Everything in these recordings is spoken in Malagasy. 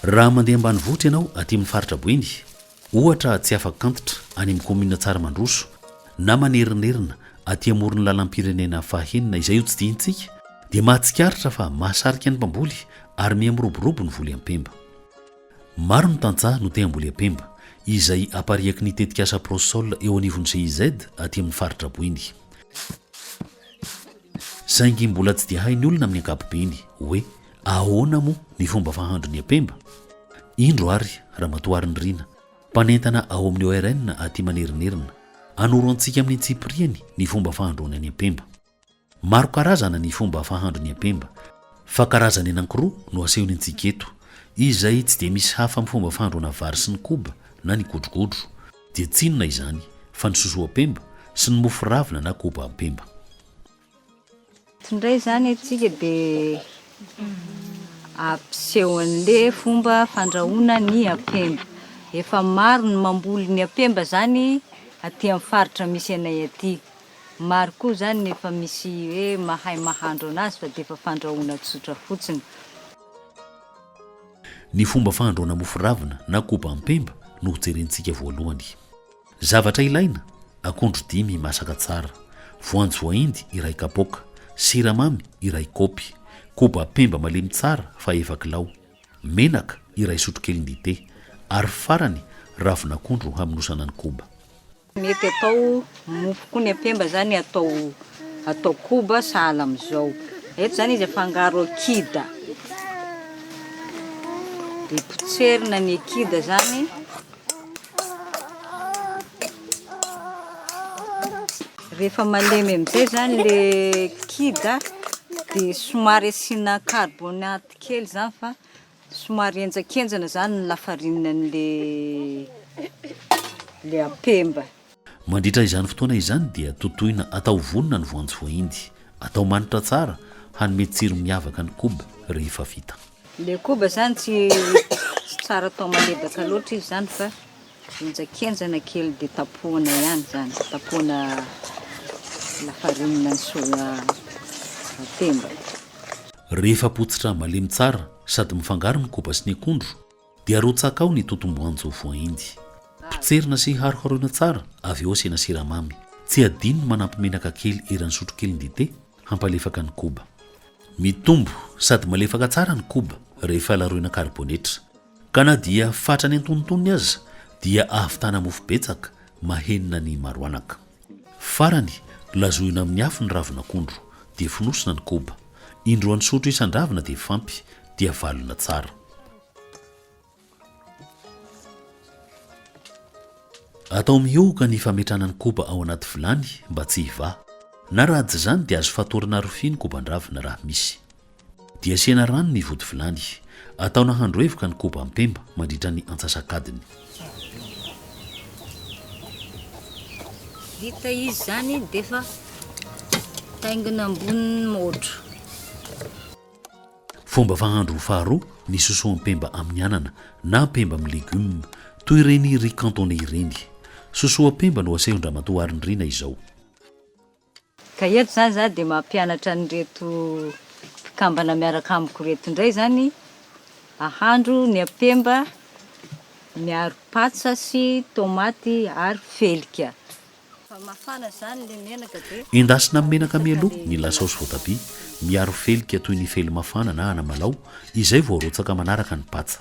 Raha mandeha ambanivohitra ianao aty amin'ny faritra Boeny, ohatra tsy afa-kantitra any amin'ny kaominina Tsaramandroso na manerinerina aty amoron'ny lalam-pirenena fahenina izay hotsidihitsika dia mahatsikaritra fa mahasarika ny mpamboly ary miha miroborobo ny voly ampemba. Maro ny tantsaha no te hamboly apemba, izay apariaky ny tetikasa Prosol eo anivon'ny GIZ aty amin'ny faritra Boeny. Saingy mbola tsy dia hain'ny olona amin'ny ankapobeny hoe ahoana moa ny fomba fahandro ny apemba? Indro ary Ramatoa Harinirina, mpanentana ao amin'ny ORN aty Manerinerina, hanoro antsika amin'ny antsipiriany ny fomba fahandroana ny apemba. Maro karazana ny fomba fahandro ny ampemba, fa karazany anankiroa no asehony antsika eto, izay tsy dia misy hafa amin'ny fomba fahandroana vary sy ny koba na ny godrogodro, dia tsy inona izany fa ny sosoampemba sy ny mofo ravina na koba ampemba. Tsy indray izany antsika dia ampiseho an'le fomba fandrahoana ny ampemba. Efa maro ny mamboly ny ampemba izany aty amin'ny faritra misy anay aty, Maro koa izany ny efa misy hoe mahay mahandro anazy fa dia efa fandrahoana tsotra fotsiny. Ny fomba fahandroana mofo ravina na kobam-pemba no hojerentsika voalohany. Zavatra ilaina, akondro dimy masaka tsara, voanjo voahendy iray kapoaka, siramamy iray kaopy, kobam-pemba malemy tsara fa efa kilao, menaka iray sotrokely dite, ary farany ravin'akondro hamonosana ny koba. Mety atao mofo koa ny apemba zany atao atao koba sahala amizao. Eto zany izy afangaro kida. Dia potserina ny kida zany. Rehefa malemy amizay zany le kida dia somary asiana carbonate kely zany fa Somary henjankenjana zany ny lafarine an'le le apemba. Mandritra izany fotoana izany dia totoina atao vonona ny voanjo voahendy. Atao manitra tsara hanome tsiro miavaka ny koba rehefa vita. Le koba zany tsy tsara atao malebaka loatra izy zany fa. Henjakenjana kely dia tapohana ihany izany, tapohana lafarinina ny soja voatemba. Rehefa potsitra malemy tsara sady mifangaro ny koba sy ny akondro dia arotsaka ao ny totom-boanjo voaendy. Potserina sy haroharoina tsara avy eo asiana siramamy. Tsy adino ny manampy menaka kely eran'ny sotrokeliny dite hampalefaka ny koba. Mitombo sady malefaka tsara ny koba rehefa laroina karibonetra. Ka na dia fatrany antonontonony aza dia ahavitana mofo betsaka mahenina ny maroanaka. Farany, lazoina amin'ny afo ny ravin'akondro, dia fonosina ny koba. Indroan'ny sotro isan-dravina dia fampy, dia valona tsara. Atao mihohoka ny fametrahana ny koba ao anaty vilany mba tsy hivaha. Na raha tsy izany dia azo fatorana rofia ny koban-dravina raha misy. Dia asiana rano ny vodivilany. Atao nahandro hevoka ny koba mpemba mandritra ny antsasak'adiny. Vita izy izany dia efa taingina ambonin'ny môtro. Fomba fahandro faharoa ny sosoampemba amin'ny anana na mpemba amin'ny légumes, toy ireny riz cantonais ireny. Sosoampemba no asehon-dramatoa Harinirina izao. Ka eto izany za dia mampianatra an'ireto mpikambana miaraka amiko ireto indray izany ahandro ny apemba miaro patsa sy tomaty ary felika. Efa mafana izany ilay menaka dia. Endasina amin'ny menaka mialoha ny lasaosy voatabia miaro felika toy ny felimafana na anamalaho izay vao arotsaka manaraka ny patsa.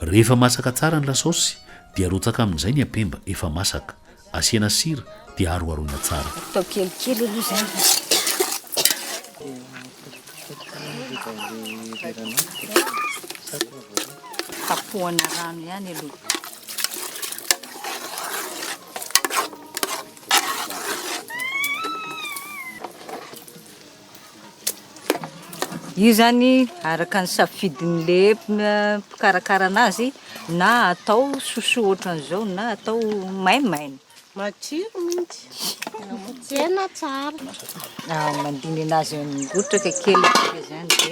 Rehefa masaka tsara ny lasaosy dia arotsaka amin'izay ny ampemba efa masaka. Asiana sira dia aroharoina tsara. Atao kelikely aloha izany. Kapohana rano ihany aloha. Io zany araka ny safidin'le mpikarakara anazy na atao sosoa ohatran'izao na atao maimaina. Matsiro mintsy. Tena tsara. Ah, mandiny anazy migotraka kely tsika zany de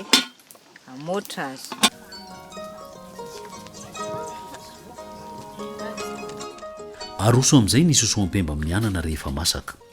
amoatra azy. Aroso amin'izay ny sosoampemba amin'ny anana rehefa masaka.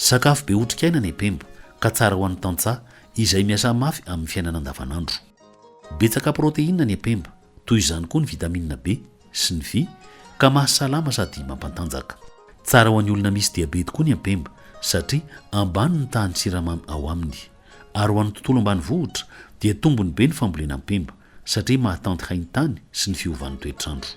Sakafo be otrikaina ny pembo ka tsara ho an'ny tantsaha izay miasa mafy amin'ny fiainana andavanandro. Betsaka protéine ny pembo, toy izany koa ny vitamine B sy ny vy ka mahasalama sady mampantanjaka. Tsara ho an'ny olona misy diabety koa ny pembo satria ambany ny tahan'ny siramamy ao aminy. Ary ho an'ny tontolo ambanivohitra dia tombony be ny fambolena pembo satria mahatanty haintany sy ny fiovan'ny toetr'andro.